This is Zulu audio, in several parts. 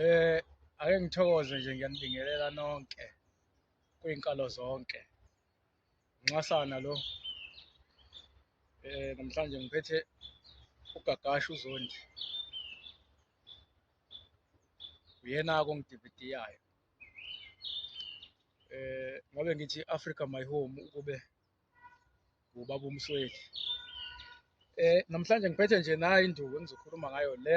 Eh ake ngithokoze nje ngiyanibingelela nonke kwinkalo zonke. Nxasana lo. Eh namhlanje ngiphethe ugagasha uzondi. Uyena kongidividiyayo. Eh ngobe ngithi Africa my home ukube ubaba uMsweli eh namhlanje ngiphethe nje nayo induku engizokhuluma ngayo le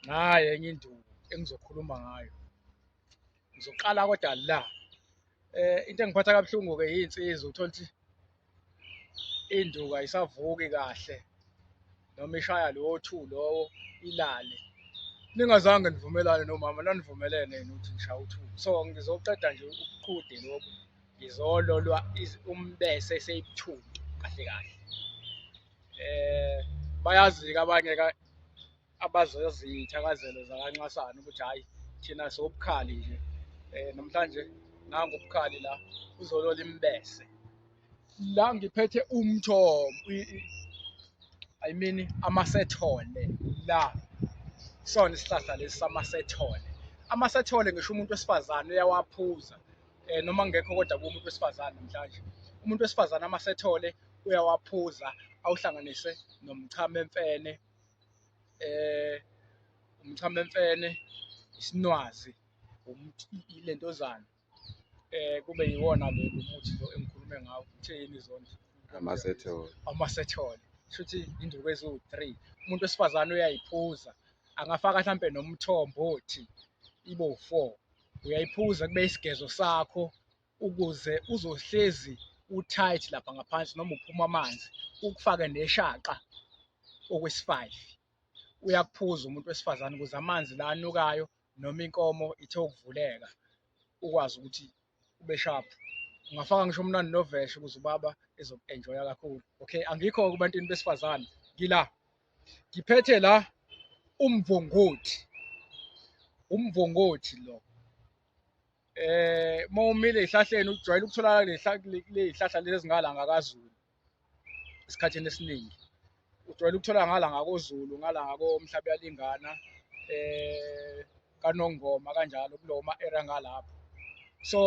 naye enye induku engizokhuluma ngayo ngizoqala kodwa la eh into engiphatha kabuhlungu ke yinsizwa uthola ukuthi induku ayisavuki kahle noma ishaya lowo two lowo ilale ningazange nivumelane nomama nanivumelene yini ukuthi ngishaya u-two so ngizoqeda nje ubuqhude lobu ngizololwa umbese eseyibuthuntu kahle kahle eh bayazi-ke abanye abazazi iy'thakazelo zakanxasana ukuthi hhayi thina sobukhali nje um namhlanje nangu ubukhali la uzolola imbese la ngiphethe umthombo I mean amasethole la sona isihlahla lesi samasethole amasethole ngisho umuntu wesifazane uyawaphuza eh noma ngekho kodwa kumuntu wesifazane namhlanje umuntu wesifazane amasethole uyawaphuza awuhlanganise nomchamo emfene eh umchamo emfene isinwazi lentozana eh kube yiwona lo muthi lo engikhulume ngawo kuthe yini izondlo amasethole amasethole shuthi induku eziwu-3 umuntu wesifazane uyayiphuza angafaka mhlampe nomthombo othi ibo 4 uyayiphuza kube isigezo sakho ukuze uzohlezi u-tight lapha ngaphansi noma uphuma amanzi ukufake neshaqa okwesifayifi uyakuphuza umuntu wesifazane ukuze amanzi la anukayo noma inkomo ithe ukuvuleka ukwazi ukuthi ube sharp ungafaka ngisho umnandi noveshe ukuze ubaba ezoku-enjoya kakhulu okay angikho kubantwini besifazane ngila ngiphethe la umvongothi umvongothi lo eh mawumile ezihlahleni ujwayele ukutholakala lezihlahla lezi zingalanga kaZulu esikhathini esiningi ujwayele ukuthola ngala ngakozulu ngala ngakomhlaba yalingana eh kanongoma kanjalo kulowo ma-era ngalapho so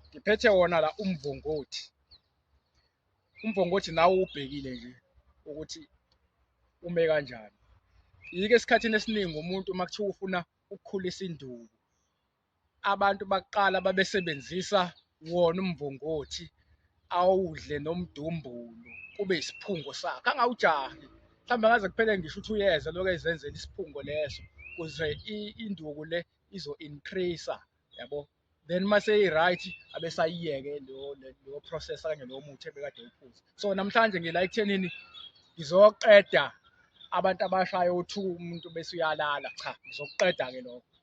ngiphethe wona la umvongothi umvongothi nawe ubhekile nje ukuthi ume kanjani yike esikhathini esiningi umuntu uma kuthiwa ufuna ukukhulisa induku abantu bakuqala babesebenzisa wona umvongothi awudle nomdumbulu kube isiphungo sakhe angawujahi mhlawumbe ngaze kuphele ngisho ukuthi uyeza lokho ezenzela isiphungo leso kuze induku le izo increase yabo then uma seyi-right abesayiyeke leyo process kanye lowo muthi ebekade uphuza so namhlanje ngila ekuthenini ngizoqeda abantu abashayo uthuka umuntu bese uyalala cha ngizokuqeda-ke lokho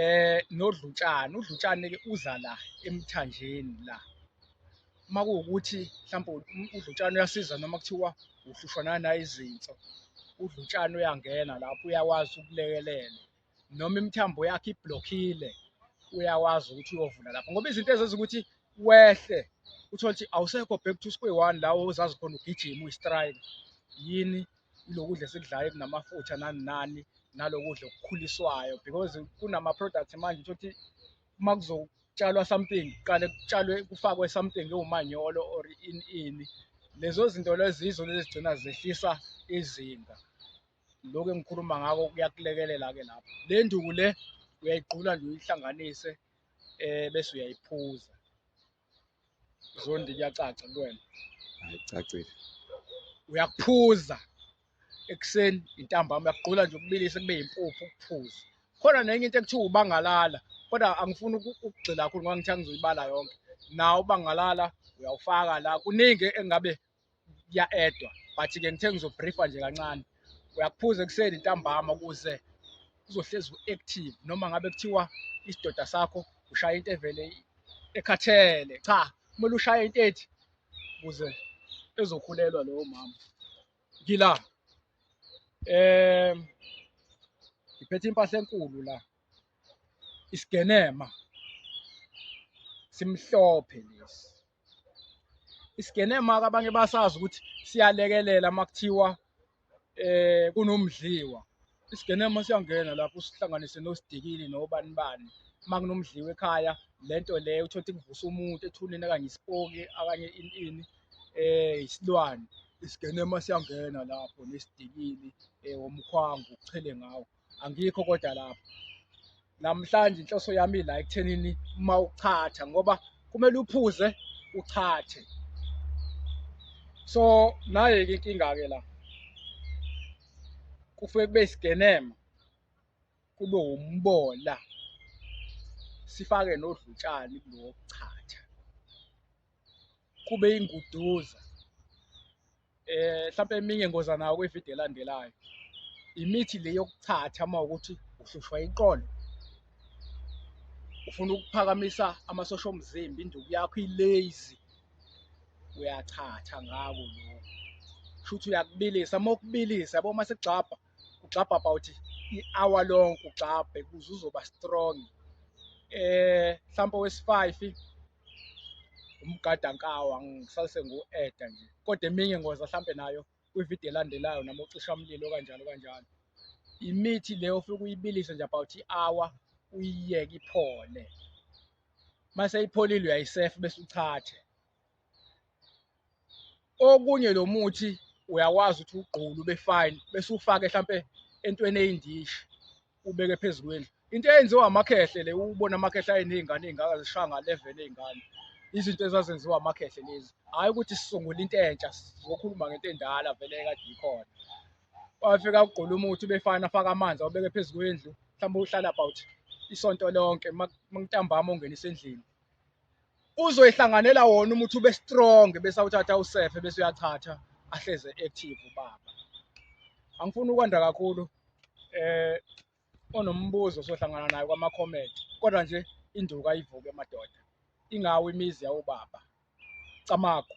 eh nodlutshana udlutshane ke uza la emthanjeni la uma kuwukuthi mhlawumbe udlutshane uyasiza noma kuthiwa uhlushwa nanayo izinso udlutshane uyangena lapho uyakwazi ukulekelela noma imithambo yakhe iblockile uyakwazi ukuthi uyovula lapho ngoba izinto ezenza ukuthi wehle uthole ukuthi awusekho back to square one lawo ozazi khona ugijima uyistrike yini ilokudla esikudlayo kunamafutha nani nani nalokudla okukhuliswayo because kunama products manje ukuthi uma kuzotshalwa something kuqale kutshalwe kufakwe something ewumanyolo or in ini lezo zinto lezizo lezigcina zehlisa izinga lokho engikhuluma ngako kuyakulekelela ke lapho le nduku le uyayigqula nje uyihlanganise eh bese uyayiphuza Zondi kuyacaca kuwena. Hayi cacile. Uyakuphuza ekuseni intambama uyakugqula nje ukubilisa kube yimpuphu ukuphuza. Khona nenye into ekuthiwa ubangalala kodwa angifuni ukugxila kakhulu ngoba ngithi angizoyibala yonke. Nawo ubangalala uyawufaka la kuningi engabe kuya-edwa but ke ngithe ngizobriefa nje kancane uyakuphuza ekuseni ntambama ukuze uzohlezi u-active noma ngabe kuthiwa isidoda sakho ushaya into evele ekhathele cha kumele ushaye into ethi ukuze ezokhulelwa lowo mama ngila um ngiphethe impahla enkulu la isigenema simhlophe lesi isigene maka abanye basazi ukuthi siyalekelela makuthiwa eh kunomdliwa isigene uma siyangena lapho sihlanganise nosidikili nobani bani uma kunomdliwa ekhaya lento le uthole ukuthi kuvusa umuntu ethuneni okanye isipoki okanye ini ini eh isilwane isigene uma siyangena lapho nesidikili eh womkhwango uchele ngawo angikho kodwa lapho namhlanje inhloso yami la ekuthenini uma uchatha ngoba kumele uphuze uchathe so naye-ke inkinga-ke la kufuke kube isigenema kube wumbola sifake nodlutshani kulowo kuchatha kube inguduza eh mhlawumbe eminye ngoza nawo kwivideo elandelayo imithi le yokuthatha uma ukuthi uhlushwa iqolo ufuna ukuphakamisa amasosha omzimba induku yakho ilazy uyathatha ngako lokho shuthi uyakubilisa uma ukubilisa yabo uma sigxabha ugxabha about i-hour lonke ugxabhe kuze uzoba strong eh mhlawumbe wesi-five umgada nkawa ngisase ngu-eda nje kodwa eminye ngoza hlampe nayo kwividiyo elandelayo noma ucishamlilo kanjalo kanjalo imithi leyo ufike uyibilise nje about i-hour uyiyeke iphole mase ipholile uyayisefa bese uchathe okunye lo muthi uyakwazi ukuthi ugqulu ube fine bese ufake mhlampe entweni eyindishi ubeke phezu kwendlu into eyenziwa amakhehle le ubona amakhehle ayinezingane ezingaka zishaya nga 11 ezingane izinto ezazenziwa amakhehle lezi hayi ukuthi sisungule into entsha sizokhuluma ngento endala vele kade ikhona wafika ugqula umuthi ube fine afaka amanzi awubeke phezu kwendlu mhlawumbe uhlala about isonto lonke mangitambama ungenisa endlini uzoyihlanganela wona uma uthi ube strong bese awuthatha usefe bese uyachatha ahleze active ubaba angifuni ukwanda kakhulu eh onombuzo sohlangana naye kwama comment kodwa nje induku ayivuke madoda ingawo imizi yawubaba camagu